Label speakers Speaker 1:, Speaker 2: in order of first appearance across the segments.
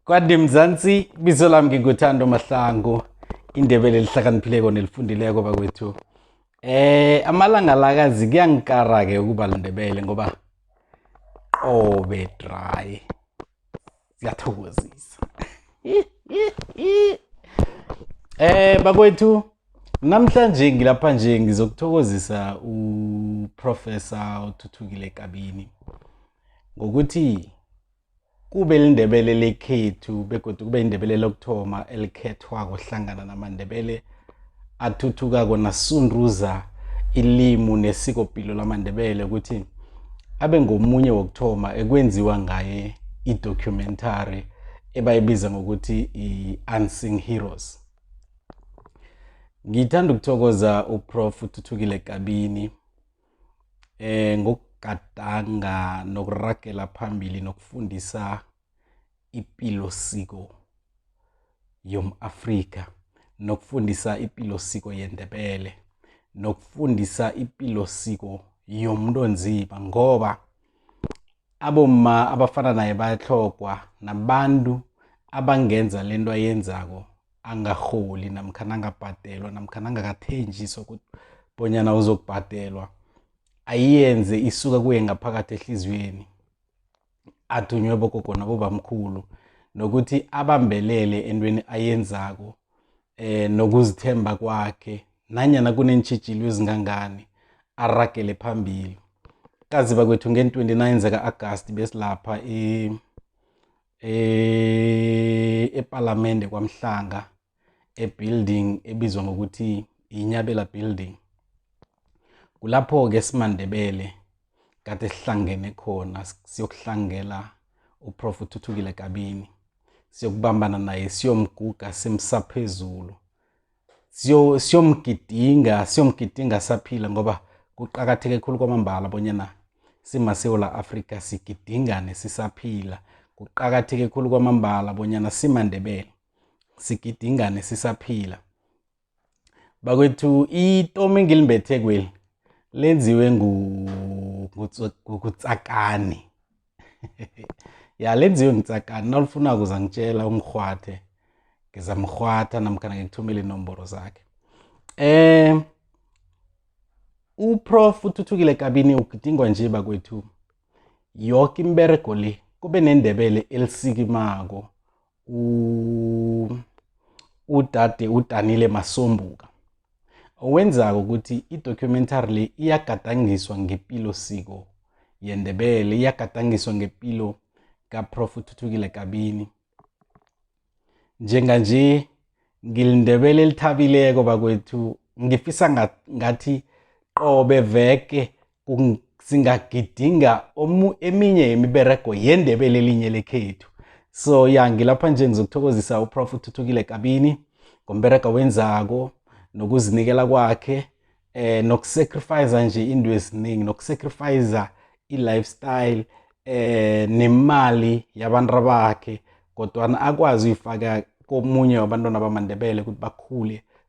Speaker 1: kwande mzansi bizo lami nginguthando mahlangu indebele lihlakaniphileko nelifundileko bakwethu eh amalanga lakazi kuyangikara ke ukuba lindebele ngoba qobe dry siyathokozisa eh bakwethu namhlanje ngilapha nje ngizokuthokozisa uprofessor uthuthukile kabini ngokuthi kube lindebele lekhethu begodu kube indebele lokuthoma elikhethwako hlangana namandebele athuthukako nasunduza ilimu nesikopilo lamandebele ukuthi abe ngomunye wokuthoma ekwenziwa ngaye i-documentary ebayibiza ngokuthi i-unsing heroes ngithanda ukuthokoza uprof uthuthukile kabini eh ngokugadanga nokuragela phambili nokufundisa ipilo siko yomAfrika nokufundisa ipilo siko yendebele nokufundisa ipilo siko yomuntu onzima ngoba abomma abafana naye bayatlhogwa nabantu abangenza lento ayenzako angarholi namkha nangabhadelwa namkha nangakathenjiswa ukuthi bonyana uzokubhadelwa ayiyenze isuka kuye ngaphakathi ehliziyweni athunywe bogogo nabobamkhulu nokuthi abambelele entweni ayenzako eh nokuzithemba kwakhe nanyana kuneentshijilo ezingangani aragele phambili kaziba kwethu nge-29 zaka-agasti besilapha e, eh, epalamende kwamhlanga ebuilding ebizwa ngokuthi yinyabela building kulapho-ke simandebele kade sihlangene khona siyokuhlangela uprof uthuthukile kabini siyokubambana naye siyomguga simsaphezulu siyo- siyomgidinga siyomgidinga saphila ngoba kuqakatheke khulu kwamambala bonyana simasewula afrika sigidingane sisaphila kuqakatheke khulu kwamambala bonyana simandebele sigidingane sisaphila bakwethu itomu engilimbethe kweli lenziwe ngu- ngutso- ngukutsakani ya lenziwe ngitsakani nalifuna kuza ngitshela umrhwathe ngizamrhwatha namkhana ngikuthumele inomboro zakhe eh uprof uthuthukile kabini ugidingwa nje bakwethu yoke imberego le kube nendebele elisikimako udade udanile masombuka owenzako ukuthi i-documentary le iyagadangiswa ngepilo siko yendebele iyagadangiswa ngepilo kaprof uthuthukile kabini njenganje ngilindebele elithabileko bakwethu ngifisa ngathi qobe veke singagidinga eminye yemiberego yendebele elinye lekhethu so ya ngilapha nje ngizokuthokozisa uprof uthuthukile kabini ngomberego wenzako nokuzinikela kwakhe eh nokusacrifice nje into eziningi nokusacrifice i-lifestyle eh nemali yabantu bakhe kodwa akwazi uyifaka komunye wabantwana bamandebele ukuthi bakhule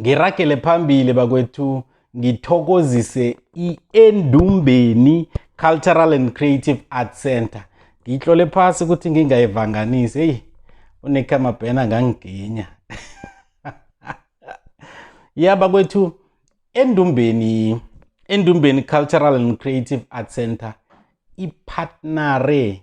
Speaker 1: ngiragele phambili bakwethu ngithokozise i-endumbeni cultural and creative art center ngiyihlole phasi ukuthi ngingayivanganisi eyi unekhamabhena angangiginya ya bakwethu endumbeni endumbeni cultural and creative art center iphatnare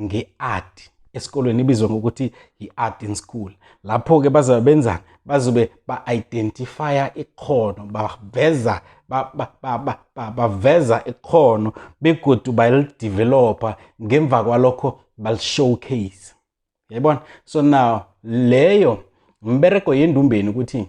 Speaker 1: nge-art esikolweni ibizwa ngokuthi yi-art in school lapho-ke bazobe benzani bazobe ba-identifya ikhono baveza baveza ikhono begodu balidevelopha ngemva kwalokho balishowcase yayibona so now leyo mbereko yendumbeni ukuthi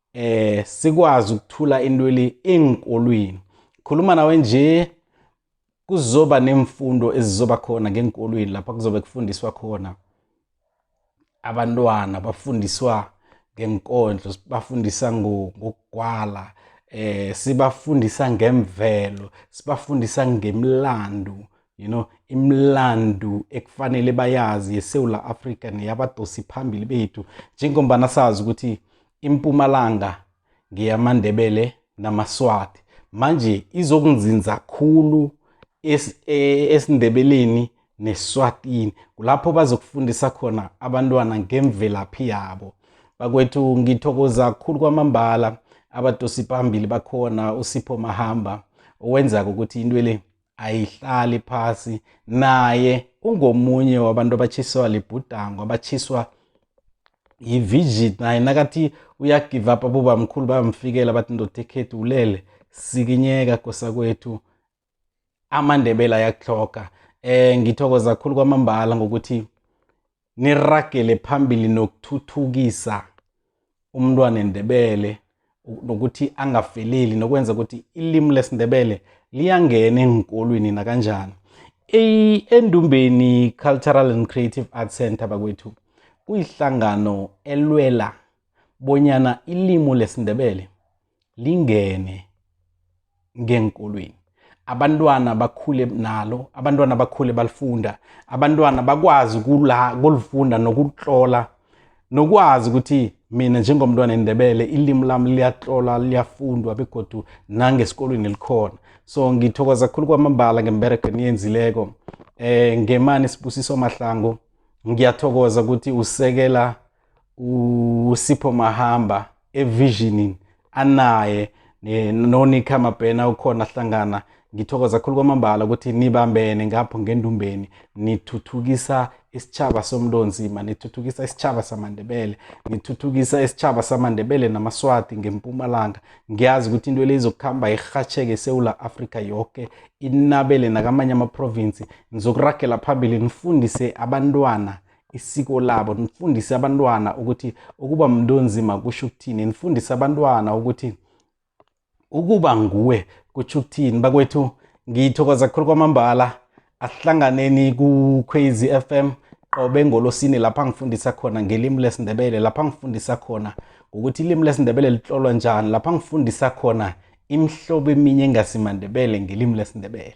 Speaker 1: eh sikwazi ukuthula intweli enkolweni khuluma nawe nje kuzoba nemfundo ezizoba khona ngenkolweni lapha kuzobe kufundiswa khona abantwana bafundiswa ngenkondlo bafundisa ngokugwala eh sibafundisa ngemvelo sibafundisa ngemlando you know imlandu ekufanele bayazi yesewula afrika neyabadosi phambili bethu njengombana sazi ukuthi impumalanga ngeyamandebele namaswati manje izokunzinza khulu es, e, esindebeleni neswatini kulapho bazokufundisa khona abantwana ngemvelaphi yabo bakwethu ngithokoza khulu kwamambala abadosi phambili bakhona usipho mahamba owenzako ukuthi into le ayihlali phasi naye ungomunye wabantu abatshiswa libhudango abatshiswa yi-vigit naye nakathi uyagive up abobamkhulu bayamfikela bathi ndoda ekhethu ulele sikinyeka kosa kwethu amandebela ayakuhloga um eh, ngithokoza khulu kwamambala ngokuthi niragele phambili nokuthuthukisa umntwana endebele nokuthi angafeleli nokwenza ukuthi ilimi lesindebele liyangena engikolweni nakanjani endumbeni cultural and creative art center bakwethu kuyihlangano elwela bonyana ilimu lesindebele lingene ngeenkolweni abantwana bakhule nalo abantwana bakhule balifunda abantwana bakwazi kula kulifunda nokutlola nokwazi ukuthi mina njengomntwana endebele ilimi lami liyatlola liyafundwa begodu nangesikolweni likhona so ngithokoza khulu kwamambala ngemberego eniyenzileko eh ngemani sibusiso mahlango ngiyathokoza ukuthi usekela usipho mahamba evisionin anaye nonika mabhena ukhona hlangana ngithokoza khulu kwamambala ukuthi nibambene ngapho ngendumbeni nithuthukisa isitshaba somlonzima nithuthukisa isitshaba samandebele nithuthukisa isitshaba samandebele namaswati ngempumalanga ngiyazi ukuthi into elizokuhamba irhatsheke esewula afrika yoke inabele nakamanye amaprovinsi nizokuragela phambili nifundise abantwana isiko labo nifundise abantwana ukuthi ukuba mntu onzima kusho ukuthini nifundise abantwana ukuthi ukuba nguwe kutsho ukuthini bakwethu ngithokoza khulu kwamambala asihlanganeni ku-crazy f m qobe ngolosini lapha ngifundisa khona ngelimi lesindebele lapha ngifundisa khona ngokuthi ilimi lesindebele lihlolwa njani lapha ngifundisa khona imihlobo eminye engasimandebele ngelimi lesindebele